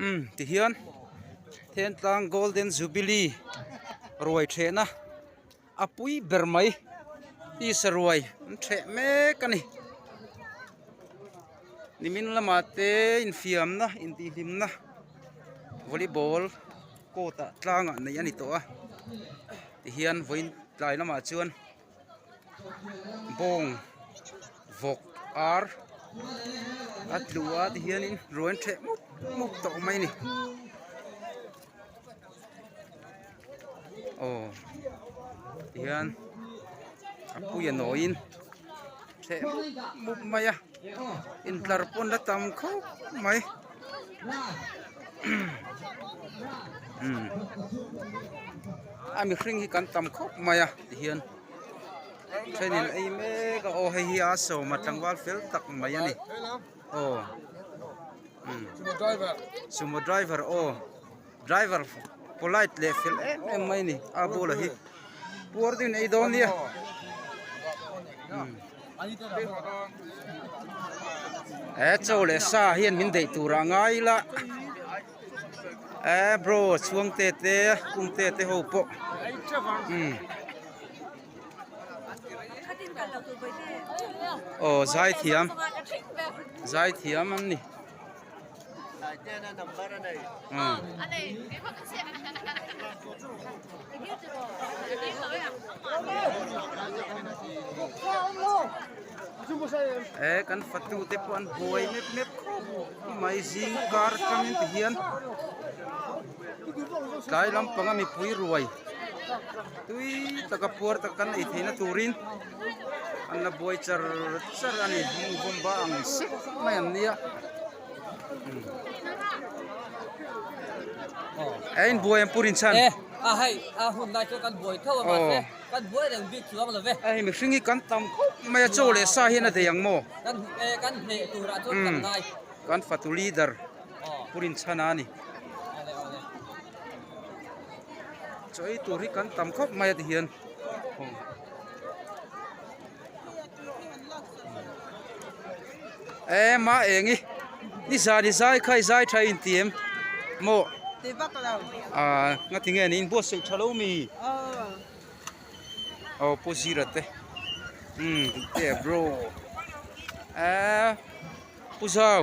Umm tihian Thentlang golden jubilee ruai thehna a pui ber mai peace a ruai awm theh mek a ni nimin lamah te infiamna intihhlimna volleyball court ah tlangah neih a ni tawh a tihian vawiin tlai lamah chuan-- bawng vawk ar a tlua te hian in ruan chheh mup mup tawh mai a ni aw tihian a puia nawi in chheh mup mup mai a. In tlar pawn la tam khawp mai umm a mihring hi kan tam khawp mai a ti hian thenin ei mek a aw hei hi a sawma tlangval fel tak mai a ni aw umm sumo driver aw. Driver polite leh fel em em mai ni a bulah hi puar deuhin ei dawn nia e chaw leh sa hian min deih tur ah ngai la e bro chhuang te te kum te te ho pawh umm aw zaithiam zaithiam an ni. Eee kan fatu te pawh an buai mep mep khawp i mai zing kar atang in ti hian tlai lampanga mipui ruai tui taka puar tak kan ei theihna turin. an la buai char char a ni hmun vawmba ang sek mai an ni a he in buai ang pur in chhan a hei a hun lai chu kan buai thauh a mah se kan buai reng bik chuang lo ve a hei mihring hi kan tam khawp mai a chaw leh sa hian a dei ang maw kan e kan hneh tur ah chuan kan ngai kan fatu leader pur in chhan a ni chaw ei tur hi kan tam khawp mai a ti hian Eeh mah eng i ni zan i zai kha i zai tha i inti em maw ti vak lo aah nga ti nge an inbuat silh tha lo mi aw aw pu zira te umm te bro eeh pu zau.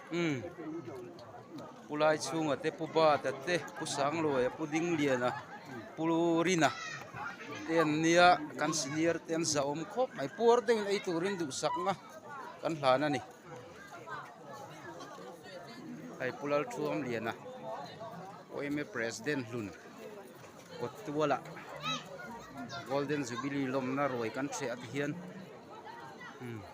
Umm Pu Laichhunga te, Pu Bata te, Pu Sangluaia, Pu Dingliana, Pu Rina te an nia, kan senior te an zahawm khawp mai. Puar deuhin ei turin duhsakna kan hlan a ni. Hei Pu Lalthuamliana, OMA President hlun kawt tuala Golden Jubilee lawmna ruai kan hreh a ti hian umm.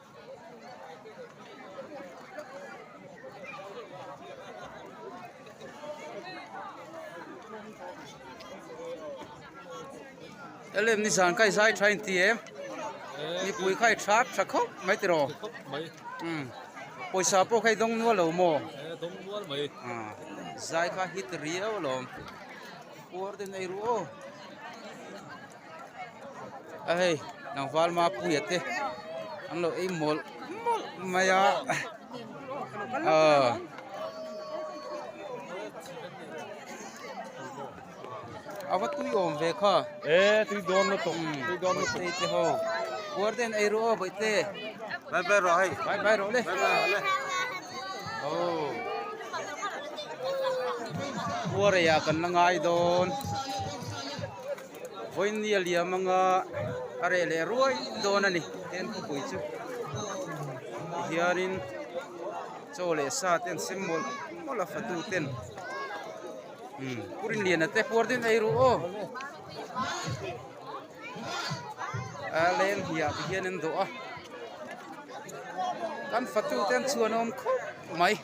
Elem nizan kha i zai tha inti em mipui kha i tha tha khawp mai tih raw pawisa pawh kha i dawng nual lo maw zai kha hit riau a lawm puar ten eiruh aw. a hei tlangval ma puia te an lo ei mawlh mawlh mai a a va tui awm ve kha puardaihna ei rawh aw bawihtê bye bye rawh hei bye bye rawh le aw puareia kan la ngai dawn. Vawinia liam anga a reh leh ruai dawn a ni Ken Khawpui chu tihianin chaw leh sa te an sem mawlh mawlh a fatu ten umm Purin liana te huar daih mai rawh aw a leng hliah te hian an dawh a kan fatu te an chuan a awm khawp mai.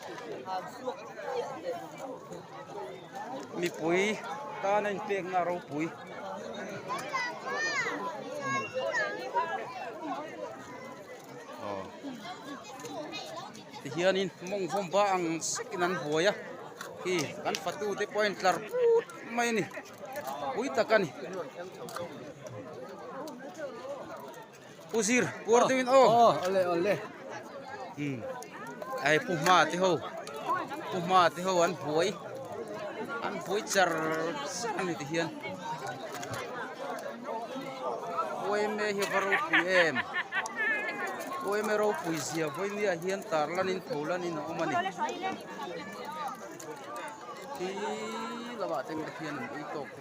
mipui tana in pek na ropui hian in mong vawm ba ang sek in an buai a khi kan fatu te pawh a in tlar put mai a ni pui tak a ni. Pu Zir, puar deuhin aw. Aw, aw le, aw le. Hmm. Ai, pu hma te ho. Pu hma te ho an buai. An buai char char ni ti hian. Puai me hi varo pui em. Puai me ro pui zia voi ni a hian tar lanin tho lanin a awm a ni. Khi lova teng te hian an ei tawk.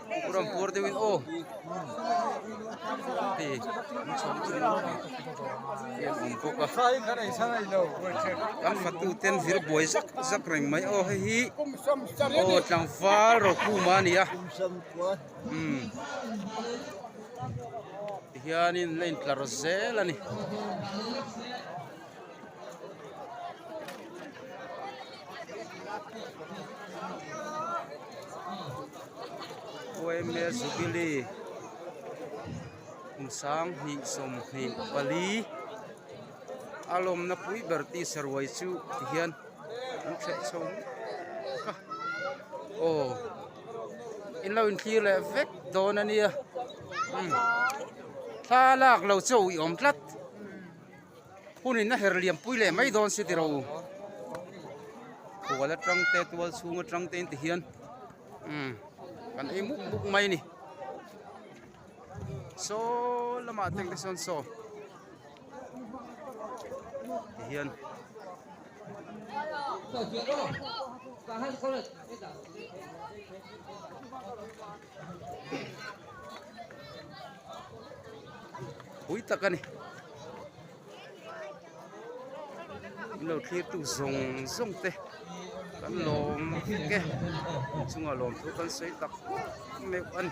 Ram pur deuh in aw hei an chhawng chu an awm bawk a kan hmatu ten zir buai zak zak reng mai aw hei hi aw tlangval rokhum a ni a umm tihian in a la intlar zel a ni. Khuaime Zubili kum sang hnih sawm hnih pali a lawmna pui ber tisa ruai chu tihian an hreh chho mek a aw in lo intlir leh vek dawn ania thlalak lo chauh i awm tlat. Hun inna her liampui leh mai dawn si tiro. Khual atang te tual chhung atang te inti hian um kan ei muk muk mai ni. Saw lama teng te sawn saw. Ti hian. Hello. Ka han pui tak a ni in lo thlir tu zawng zawng te kan lawm vek e inchung a lawm chu kan sawi tak meuh a ni.